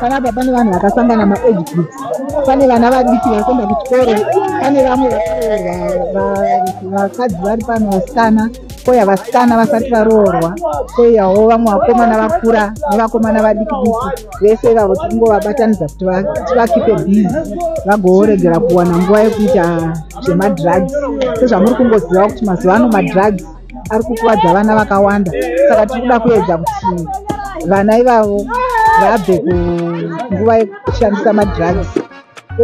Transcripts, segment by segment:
panapa pane vanhu vakasangana maage groups pane vana vadiki vari kuenda kuchikoro pane vamwe vakadzi vari pano vasikana koya vasikana vasati varoorwa koyawo vamwe vakomana vakura nevakomana vadiki diki vese ivavo tikungovabatanidza kuti tivakipe bizi vagooregera kuwana nguva yekuita zvemadrugs sezvamuri kungoziva kuti mazuva ano madrugs ari kukuvadza vana vakawanda saka tiri kuda kuedza kuti vana ivavo vabve kunguva yekushandisa madrugs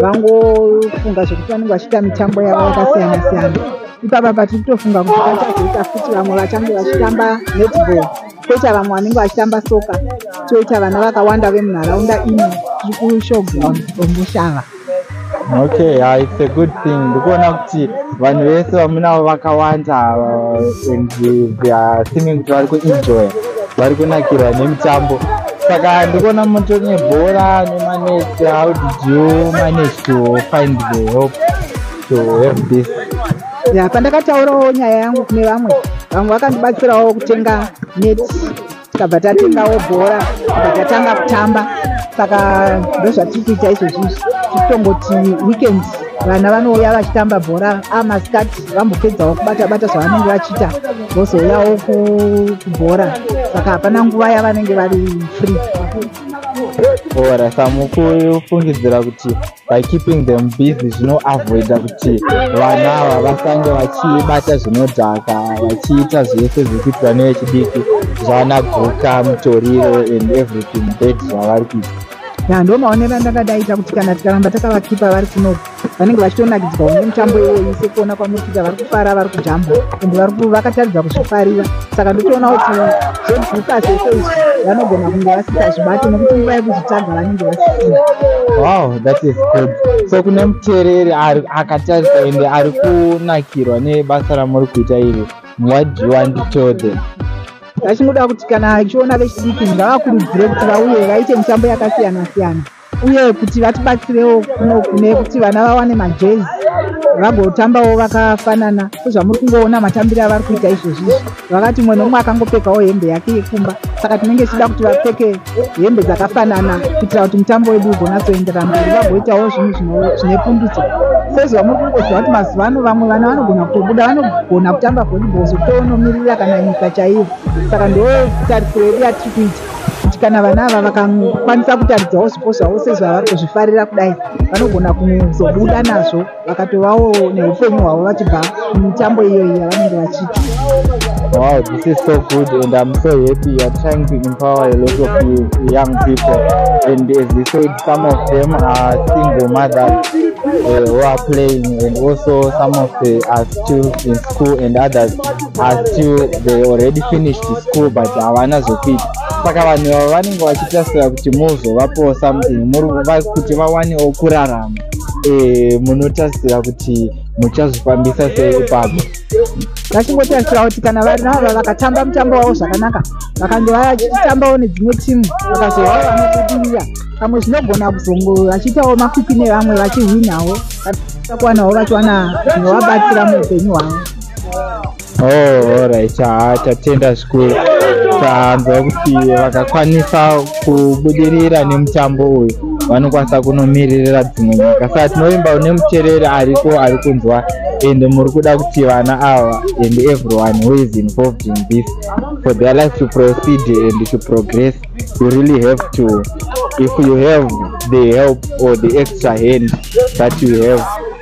vangofunga zvekuti vanenge vachiita mitambo yavo yakasiyana siyana ipapa patiri kutofunga kuti pachazoita futi vamwe vachange vachitamba netball toita vamwe vanenge vachitamba soka toita vana vakawanda vemunharaunda ino tiri kushowground omushava okay yeah, it's a good thing ndikuona kuti vanhu vese vamunavo vakawanda ava and they are seeming kuti vari kuenjoy vari kunakirwa nemitambo saka ndikuona moto nebhora nemanesi how did you manage to find the help to have this ya pandakataurawo nyaya yangu kune vamwe vamwe vakandibatsirawo kutenga net tikabva tatengawo bhora tikabva tatanga kutamba saka ndozvatiri kuita izvozvi izvi tikutongoti weekend vana vanouya vachitamba bhora amasikati ah, vambopedzawo kubata bata zvavanenge vachiita vozouyawo kubhora saka hapana nguva yavanenge vari free ora samukuyu fungidzira kuti by keeping them busy zvinoavoida kuti vana ava vasange vachibata zvinodhaka vachiita zvese zvekuti vane vechidiki zvavana guka mutoriro and everything bed zvavari kuita ya ndo maonero andakadaita kuti kana tikaramba takavakipa vari kuno vanenge vachitonakidzwa nemutambo iwoyi sekuona kwamuri kuita vari kufara vari kujamba and vakataridza kuzvifarira saka ndotoona kuti zvedhuka zvese izvi vanogona kunge vasisazvibati nekuti nguva yekuzvitsvaga vanenge vasisina wow that is good so kune muteereri akatarisa ende ari kunakirwa nebasa ramuri kuita iri what do you want to tell them vachingoda kuti kana achiona vechidiki ngavakurudzire kuti vauye vaite mitambo yakasiyana siyana uye kuti vatibatsirewo kuno kune kuti vana vawane majezi vagotambawo vakafanana sezvamuri kungoona matambiro avari kuita izvozvi izvi vakati mumwe nomumwe akangopfekawo hembe yake yekumba saka tinenge tichida kuti vapfeke hembe dzakafanana kuitira kuti mutambo wedu ugonatsoenderana mberi vagoitawo zvinhu zvine pundutso sezvamuri kungoziva kuti mazuva ano vamwe vana vanogona kutobuda vanogona kutamba volleyball zvokutonomirira kana nyika chaiyo saka ndo tarisiro yedu yatiri kuita kuti kana vana ava vakakwanisa kutaridzawo zvipo zvavo sezvavari kuzvifarira kudai vanogona kuzobuda nazvo vakatovawo neupenyu hwavo vachibva mumitambo iyoyi yavanenge vachiita Wow, this is so good and I'm so happy you are trying to empower a lot of you young people and as you said some of them are single mothers uh, who are playing and also some of them are still in school and others asi they already finished school but havana zvekuita saka vanhu vavo vanenge vachitasira kuti muzovapowo something kuti vawanewo kurarama e, munotasira kuti muchazvifambisa sei ipapo vachingotarisira kuti kana vana ava vakatamba mutambo wavo zvakanaka vakange vachitambawo nedzimwe timu vakazovao vanobudirira pamwe zvinogona kuzongo vachiitawo makwikwi nevamwe vachihwinawo vakuwanawo vachiwana zvinovabatsira muupenyu hwavo oh alright haa ah, tatenda zvikuru tanzwa kuti vakakwanisa kubudirira nemutambo uyu vanokwanisa kunomiririra dzimwe nyika saka tinovimba une mutereri ariko ari kunzwa and muri kuda kuti vana ava and everyone who is involved in this for their life to proceed and to progress you really have to if you have the help or the extra hand that you have